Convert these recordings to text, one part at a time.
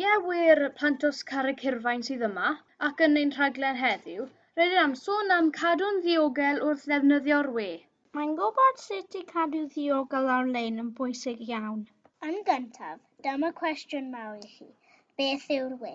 Iewyr plant os Carreg Hirfaen sydd yma, ac yn ein rhaglen heddiw, rydyn am sôn am cadw'n ddiogel wrth ddefnyddio'r we. Mae'n gwybod sut i cadw ddiogel ar-lein yn bwysig iawn. Yn gyntaf, dyma cwestiwn mawr i chi, beth yw'r we?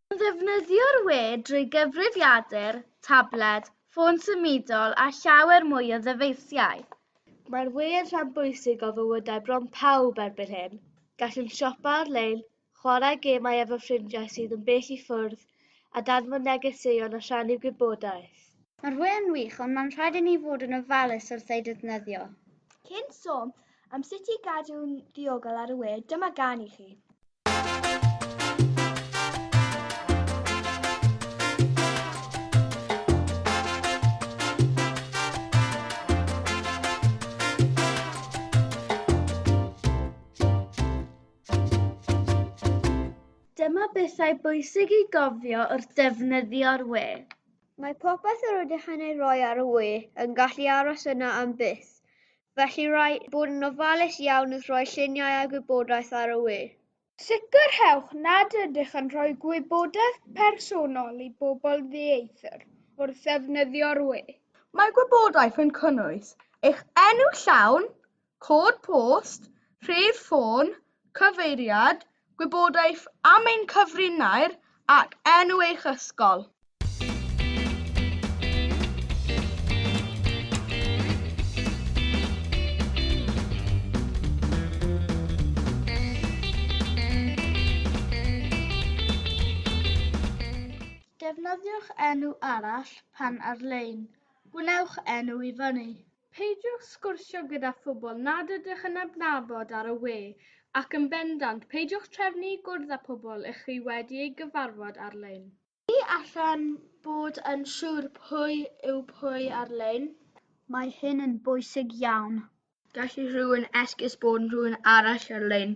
Pan ddefnyddio'r we drwy gyfrifiadur, tabled, ffôn symudol a llawer mwy o ddyfeisiau. Mae'r we yn rhan bwysig o fywydau bron pawb erbyn hyn. Gallwn siopa ar-lein, chwarae gemau efo ffrindiau sydd yn bell i ffwrdd, a danfon negeseuon a rhannu gwybodaeth. Mae'r we yn wych, ond mae'n rhaid i ni fod yn ofalus wrth ei ddefnyddio. Cyn sôn Am sut i gadw'n ddiogel ar y we, dyma gan i chi. Dyma bethau bwysig i gofio wrth ddefnyddio'r we. Mae popeth yr ydych yn ei roi ar y we yn gallu aros yna am byth. Felly rhaid bod yn ofalus iawn wrth roi lluniau a gwybodaeth ar y we. Sicrhewch nad ydych yn rhoi gwybodaeth personol i bobl ddieithr wrth ddefnyddio'r we. Mae gwybodaeth yn cynnwys eich enw llawn, cod post, rhif ffôn, Cyfeiriad, Gwybodaeth am ein cyfrinair ac enw eich ysgol. Defnyddiwch enw arall pan ar-lein. Gwnewch enw i fyny. Peidiwch sgwrsio gyda phobl nad ydych yn adnabod ar y we, ac yn bendant, peidiwch trefnu i gwrdd â phobl ych chi wedi eu gyfarfod ar-lein. Ni allwn fod yn siŵr pwy yw pwy ar-lein. Mae hyn yn bwysig iawn. Gall rhywun esgus bod yn rhywun arall ar-lein.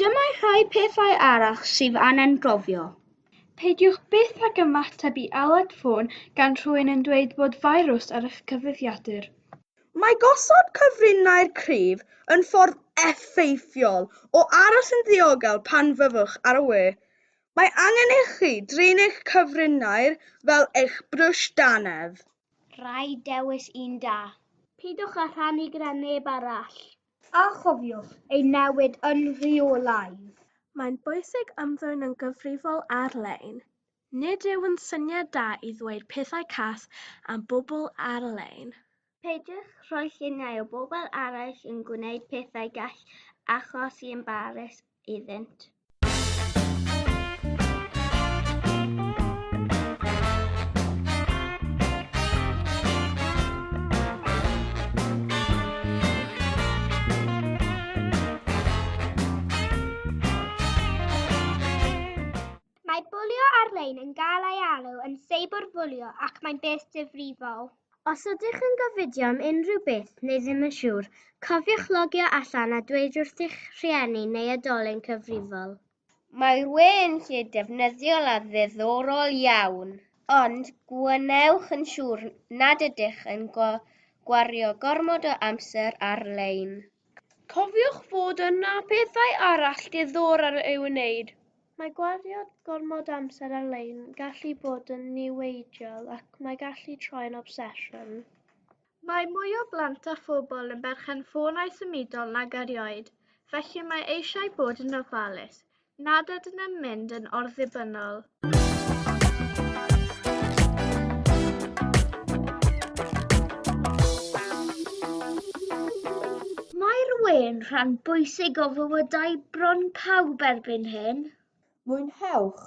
Dyma rhai pethau arall sydd angen gofio. Peidiwch byth ag ymateb i aled ffôn gan rhywun yn dweud bod firws ar eich cyfrifiadur. Mae gosod cyfrinair cryf yn ffordd effeithiol o aros yn ddiogel pan fyddwch ar y we. Mae angen i chi drin eich cyfrinair fel eich brwsh dannedd. Rhaid dewis un da. Peidiwch â rhannu gyda neb arall. A chofiwch ei newid yn rheolaidd. Mae'n bwysig ymddwyn yn gyfrifol ar-lein. Nid yw'n syniad da i ddweud pethau cas am bobl ar-lein. Peidiwch rhoi lluniau o bobl eraill yn gwneud pethau gall achosi embarrys iddynt. Mae bwlio ar-lein yn cael ei alw yn seiberbwlio ac mae'n beth difrifol. Os ydych yn gofidio am unrhyw beth neu ddim yn siŵr, cofiwch logio allan a dweud wrth eich rhieni neu oedolyn cyfrifol. Mae'r we yn lle defnyddiol a ddiddorol iawn. Ond gwnewch yn siŵr nad ydych yn gwario gormod o amser ar-lein. Cofiwch fod yna bethau arall diddorol i'w wneud. Mae gwario gormod amser ar-lein yn gallu bod yn niweidiol ac mae gallu troi'n obsesiwn. Mae mwy o blant a phobl yn berchen ffonau symudol nag erioed, felly mae eisiau bod yn ofalus. nad ydyn yn mynd yn orddibynnol. Mae'r we'n rhan bwysig o fywydau bron pawb erbyn hyn. Mwynhewch,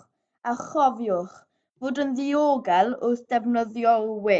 a chofiwch fod yn ddiogel wrth ddefnyddio'r we.